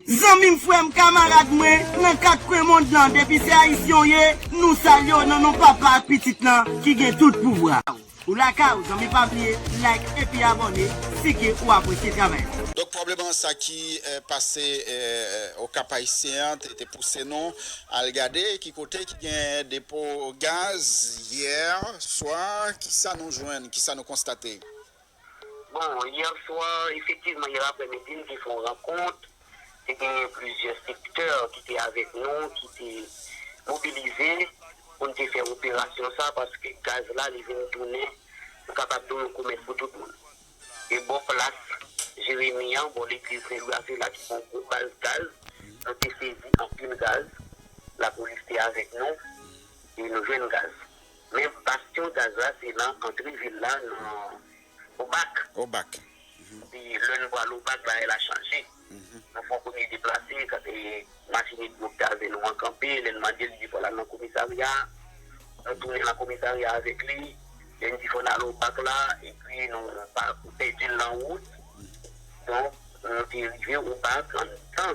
Zanmim frèm kamarad mwen nan 4 kwen mond lan depi se ayisyen w ye nou salye w nan non papa ak pitit lan ki gen tout pouvwa. Ou lakay ou zanmi pa bliye like epi abòne si ke ou apresye travay la. Donk pwoblèm an sa ki pase au Cap Haïtien an te pouse nou al gade ki kote ki gen depo gaz hier soir kisa nou jwenn kisa nou konstate. Bon, yè swa, efektivman yè aprèmidi nou te fè yon rankont, te genyen plizyè sektè ki te avèk nou, ki te mobilize pou nou te fè operasyon sa a paske gaz la li vin tounen, nou kapab di w, yon komèt pou tout moun. E bò plas Jeremi an, bò legliz Sen Lwi a se la ki gen yon gwo baz gaz, nou te sezi anpil gaz, lapolis te avèk nou e nou jwenn gaz. Men bastyon gaz la se nan antre vil la nan Obak. Obak. Epi lè n pral Obak bagay la chanje. Nou fè yon premye deplase kote machin Edmo ki avè nou an kanpe. Lè n mande l, li di fò l al nan komisarya. Nou tounen nan komisarya avèk li. Lè n di fò n al Obak la epi nou pèdi l nan wout. Donk nou te rive Obak antan.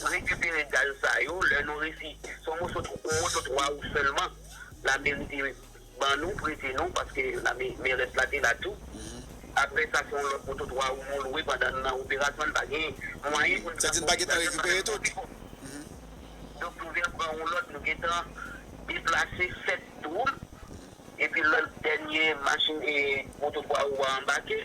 Pou rekipere gaz sa yo lè nou resi son moso on moto 3 wou sèlman lameri te ban nou prete nou paske lame merès la te la tou aprè sa son lòt moto 3 wou nou lwe pandan n nan operasyon n pa gen mwayen pou n sa di n pa gen tan rekipere tout donk nou vin pran on lòt nou gen tan deplase 7 dwoum epi lòt dènye machin moto 3 wou a anbake.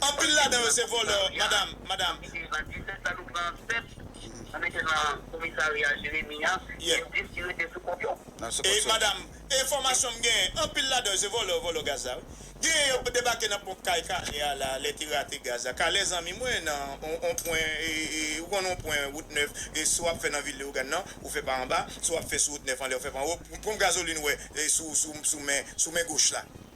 Anpil ladan yo se vòlò madam madam. Epi an 17 la nou pran 7 nou mete nan komisarya jeremi an epi 10 ki rete sou kont yo. Ey madam enfomasyon m genyen anpil ladan yo se vòlò vòlò gaz la wi genyen yo debake nan ponp kay kale a la lè te rate gaz la kale zanmi mwen nan on pwen ou konn on pwen wout 9 si wap fè nan vil leogane nan ou fè pa anba si wap fè sou wout 9 anlè ou fè pa anwo ponp gazolin wè sou men sou men goch la.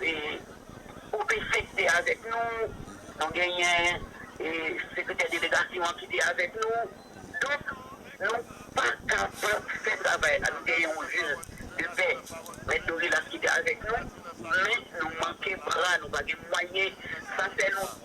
E ou te fete avèk nou, nou genyen e sekretè delegasyon an ki te avèk nou. Donk, nou pa kapab fè travay la. Nou genyen yon jil de pè, Mèt Dorilas ki te avèk nou, men nou manke bra, nou pa gen mwayen. Sa fè nou.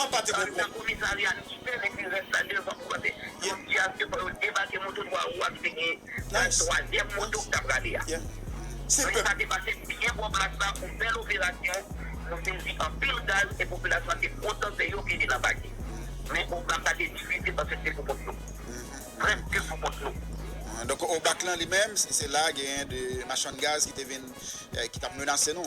An pa te bon kont. Donk obak lan li menm se la genyen de machann gaz ki te vin ki tap menase nou.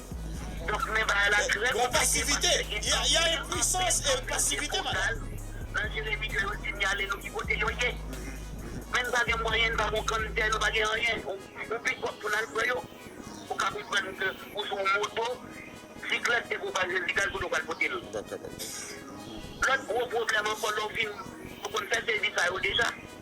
Donk men bagay la trè konplike paske gen anpil anpil anpil sikonstans nan Jeremi ke yo sinyale nou ki kote yo ye. Men nou pa gen mwayen, nou pa gen yon grann tè, nou pa gen anyen, yon pikòp pou n al pran yo. Ou ka konprann ke ou sou yon moto, siklèt depi ou pa Jezi gaz kote ou pral pote l. Lòt gwo pwoblèm ankò lè ou fin, nou konn fè sezi sa yo deja.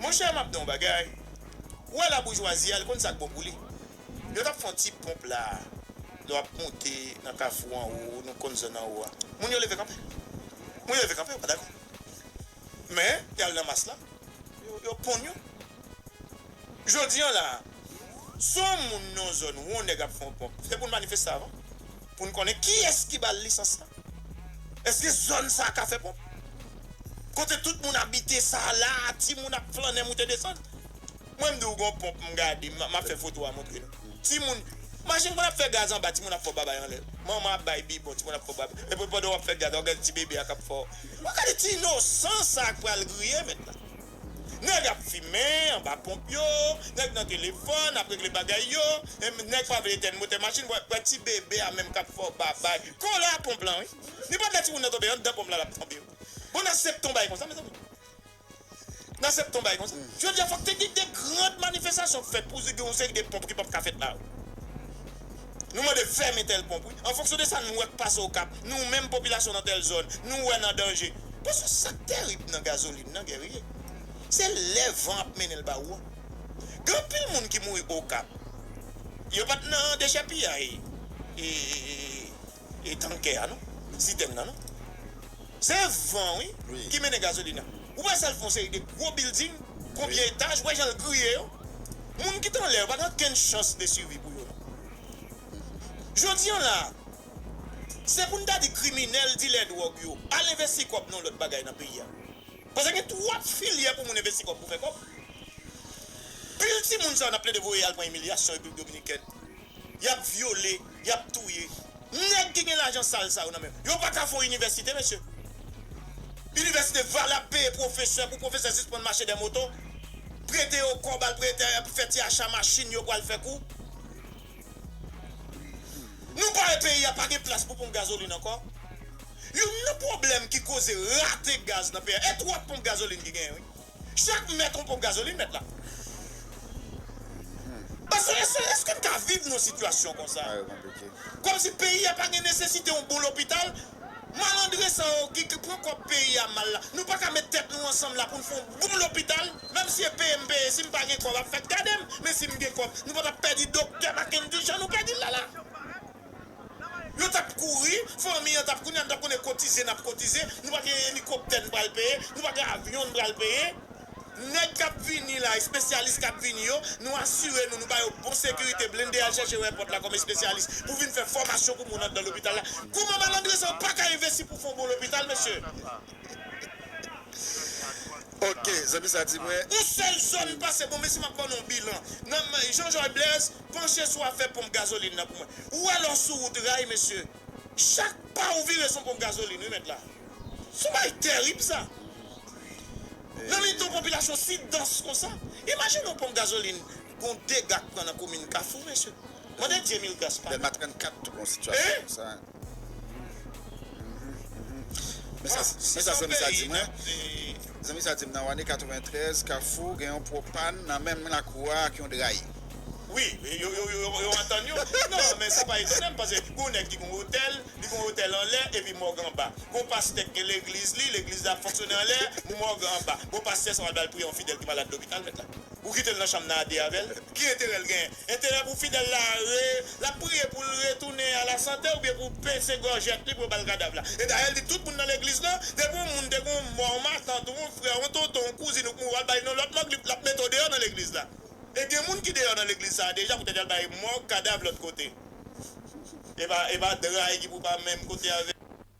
Monchè map di'w bagay, ou wè la boujwazi a li konn sak bon pou li. Yo tap fè yon ti ponp la, lè wap monte nan kafou anwo, nou konn zòn anwo a. Moun yo leve kanpe. Moun yo leve kanpe yo pa dakò. Men yal nan mas la, yo ponn yo. Jodi an la, si yon moun nan yon zòn ou yon nèg ap fè yon ponp, se pou'l manifeste avan. pou n konnen kiyès ki ba l lisans la. Èske zòn sa a ka fè ponp? Kote tout moun abite sa a la a, timoun ap flannen moute desann. Mwen m di w gen yon ponp m gade, m ap fè foto a montre nou. Timoun, Imajine moun ap fè gaz anba, timoun ap fè w babay anlè. Manman ap bay bibon, timoun ap fè w babay. Epi pandan w ap fè gaz la, w ap gade ti bebe a k ap fè w. Gade ti inosan sa a k pral griye mèt la. Nèg ap fimen anba ponp yo, nèg nan telefòn ap regle bagay yo, nèg pa vle etèn motè machin, wè wè ti bebe a menm kap fè w babay, kon la ponp lan wi, li pap lè timoun nan tonbe anndan ponp lan lap tonbe wi, bon nan sep ton bagay konsa mezanmi, nan sep ton bagay konsa, jodi a fòk te gen de grand manifestasyon k fèt pou di gen yon seri de ponp ki pap ka fèt la wi. Nou mande fèmen tèl ponp wi. An fonksyon de sa nou wè k pase Okap, nou menm popilasyon nan tèl zòn, nou wè nan danje. Paske sa k terib nan gazolin nan, Guerrier, se lè van ap mennen l ba ou an. Gen anpil moun ki mouri Okap, yo pa t nan dechèpiyay. E tankè a non, sitèn nan non. Se van wi ki mennen gazolin nan. Ou pa sal fè yon seri de gwo bilding, konbyen etaj, ou wè jan l griye yo. Moun ki t anlè yo pa gen okenn chans de sivi pou yo non. Jodi an la a, se pou n ta di kriminèl, dilè dwòg yo, al envesti kòb nan yon lòt bagay nan peyi a. Paske gen twòp filyè pou moun envesti kòb pou fè kòb. Pil timoun sa yo n ap plede voye al pran imilyasyon Repiblik Dominikèn. yap vyole, yap touye. Nèg ki gen lajan sal sa yo nan men yo, yo pa ka fon inivèsite mesye. Inivèsite valab peye pwofesè pou pwofesè sispann mache dè moto, prete yo kòb al prete epi fè ti acha machin yo pwal fè kou. Nou pare peyi a pa gen plas pou ponp gazolin ankò. Youn nan pwoblèm ki koze rate gaz nan peyi a, e twòp ponp gazolin ki genyen wi. Chak m mèt yon ponp gazolin mèt la. Eske n ka viv nan yon sitiyasyon konsa? Kòmsi peyi a pa gen nesesite yon bon lopital? Malandren sa yo ki pran kòb peyi a mal la, nou pa ka met tèt nou ansanm la pou n fè yon bon lopital? Menm si e peye m peye, si m pa gen kòb ap fèt gade m, men si m gen kòb, nou pa t ap pèdi doktè Makendy jan nou pèdi l la la. Yo tap kouri, fanmi an tap kounye a nou tap konnen kotize nap kotize, nou pa gen elikoptè nou pral peye, nou pa gen avyon nou pral peye. Nèg kap vini la, espesyalis kap vini yo, nou asire nou, nou ba yo bon sekirite, blende al chèche yo èpòt la kòm espesyalis pou vin fè fòmasyon pou moun anndan lopital la. Kouman malandren sa yo paka envesti pou fon bon lopital mesye? Ok, zanmi sa di mwen. Yon sèl zòn pase bon mesi map ban nou yon bilan nan Jean Joy Blaise Panche sou afè ponp gazolin nan pou mwen. Ou wè lè w sou wout ray mesye, chak pa ou vire son ponp gazolin wi mèt la. Son bagay terib sa. Nan mitan yon popilasyon si dans konsa. Imajine yon ponp gazolin gon dega k pran nan komin Kafou mesye. Mande Dye mil gras pa nou. Dèlma 34 tou gon sitiyasyon konsa. Men sa zanmi sa di mwen, Zanmi sa di m nan Wane 93, Kafou gen yon pwopann nan menm lakou a ak yon dray. Wi, yo antann yo. Non, men sa pa etone m, paske gen yon nèg ki gen yon otèl, li gen yon otèl anlè epi mòg anba. Gen yon pastè ki gen legliz li, legliz li ap fonksyone anlè, mòg anba. Bon, pastè sa pa vle al priye yon fidèl ki malad lopital, mèt la? Ou kite l nan chanm nan a de avè l? Ki enterè l genyen? Enterè pou Fidel la re, lap priye poul retounen a la sante oubyen pou pese gòjèt li pou yo bal kadav la. E dayè l di tout moun nan legliz lan, depi yon moun te gen yon mò, yon matant, yon frè, yon tonton, yon kouzin ou k mouri wal bay non lòt mòg li lap mete w deyò nan legliz la. E gen moun ki deyò nan legliz sa a deja poutèt yal bay mòg, kadav lòt kote. Epa epa dray ki pou pa menm kote avèl.